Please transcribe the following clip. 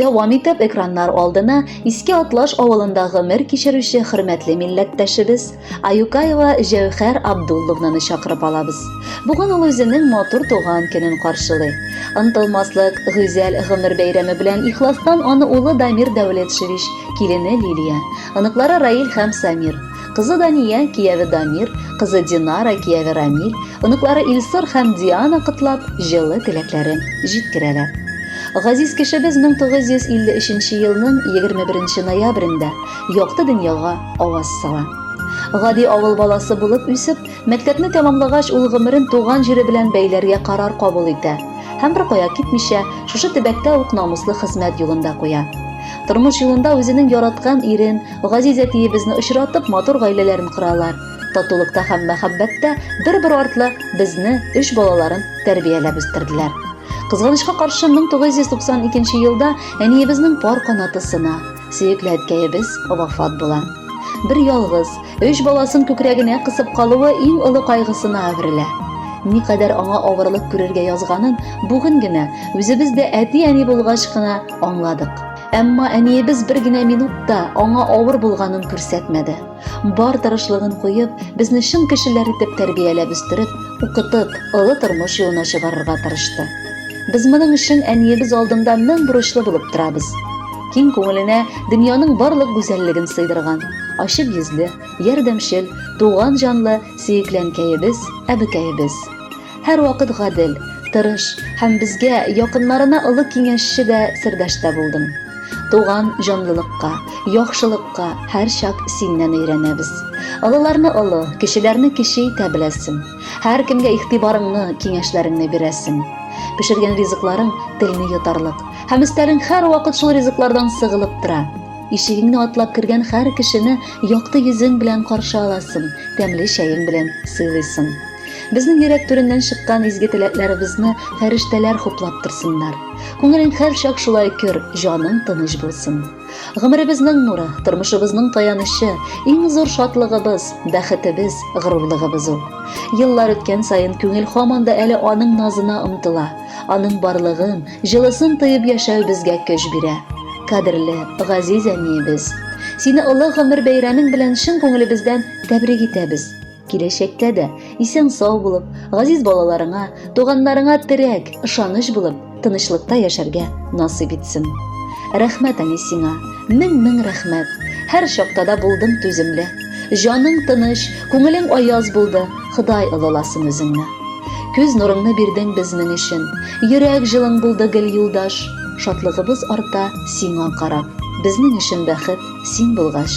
Дәвам итеп экраннар алдына Иске Атлаш авылында гомер кичерүче хөрмәтле милләттәшебез Аюкаева Җәүхәр Абдулловнаны чакырып алабыз. Бүген ул үзенең матур туган көнен каршылый. Ынтылмаслык, гүзәл гомер бәйрәме белән ихластан аны улы Дамир Дәүләтшевич, килене Лилия, оныклары Раил һәм Самир, Кызы Дания, кияве Дамир, кызы Динара, кияве Рамил, оныклары Илсур һәм Диана котлап, җылы теләкләрен җиткерәләр. Газиз кешебез 1953 елның 21 ноябрендә якты дөньяга аваз сала. Гади авыл баласы булып үсеп, мәктәпне тәмамлагач, ул гомерен туган җире белән бәйләргә карар кабул итә һәм беркая китмичә, шушы төбәктә үк намуслы хезмәт юлында куя. Тормыш юлында үзенең яраткан ирен, Газиз әтиебезне очратып, матур гаиләләрен коралар. Татулыкта һәм мәхәббәттә бер-бер артлы безне, өч балаларын тәрбияләп үстерделәр. Кызганычка каршы 1992 елда әниебезнең пар канаты сына, сөекле әткәебез вафат була. Бер ялгыз, өч баласын күкрәгенә кысып калуы иң олы кайгысына әверелә. Никадәр аңа авырлык күрергә язганын бүген генә, үзебез дә әти-әни булгач кына аңладык. Әмма әниебез бер генә минут та аңа авыр булганын күрсәтмәде. Бар тырышлыгын куеп, безне чын кешеләр итеп тәрбияләп үстереп, укытып, олы тормыш юлына чыгарырга тырышты. Без моның өчен әниебез алдында мең бурычлы булып торабыз. Киң күңеленә дөньяның барлык гүзәллеген сыйдырган, ачык йөзле, ярдәмчел, туган җанлы, сөекләнкәебез, әбекәебез. Һәрвакыт гадел, тырыш һәм безгә якыннарына олы киңәшче дә, сердәш тә булдың. Туган җанлылыкка, яхшылыкка һәрчак синнән өйрәнәбез. Олыларны олы, кечеләрне кече итә беләсең. Һәркемгә игътибарыңны, киңәшләреңне бирәсең. Пешергән ризыкларың телне йотарлык һәм өстәлең һәрвакыт шул ризыклардан сыгылып тора. Ишегеңне атлап кергән һәр кешене якты йөзең белән каршы аласың, тәмле чәең белән сыйлыйсың. Безнең йөрәк түреннән чыккан изге теләкләребезне фәрештәләр хуплап торсыннар. Күңелең һәрчак шулай көр, җаның тыныч булсын. Гомеребезнең нуры, тормышыбызның таянычы, иң зур шатлыгыбыз, бәхетебез, горурлыгыбыз ул. Еллар үткән саен күңел һаман да әле аның назына омтыла. Аның барлыгын, җылысын тоеп яшәү безгә көч бирә. Кадерле, газиз әниебез! Сине олы гомер бәйрәмең белән чын күңелебездән тәбрик итәбез! Киләчәктә дә исән-сау булып, газиз балаларыңа, туганнарыңа терәк, ышаныч булып, тынычлыкта яшәргә насыйп итсен. Рәхмәт, әни, сиңа. Мең-мең рәхмәт. Һәр чакта да булдың түземле. Җаның тыныч, күңелең аяз булды. Ходай олыласын үзеңне. Күз нурыңны бирдең безнең өчен. Йөрәк җылың булды гел юлдаш. Шатлыгыбыз арта сиңа карап. Безнең өчен бәхет син булгач.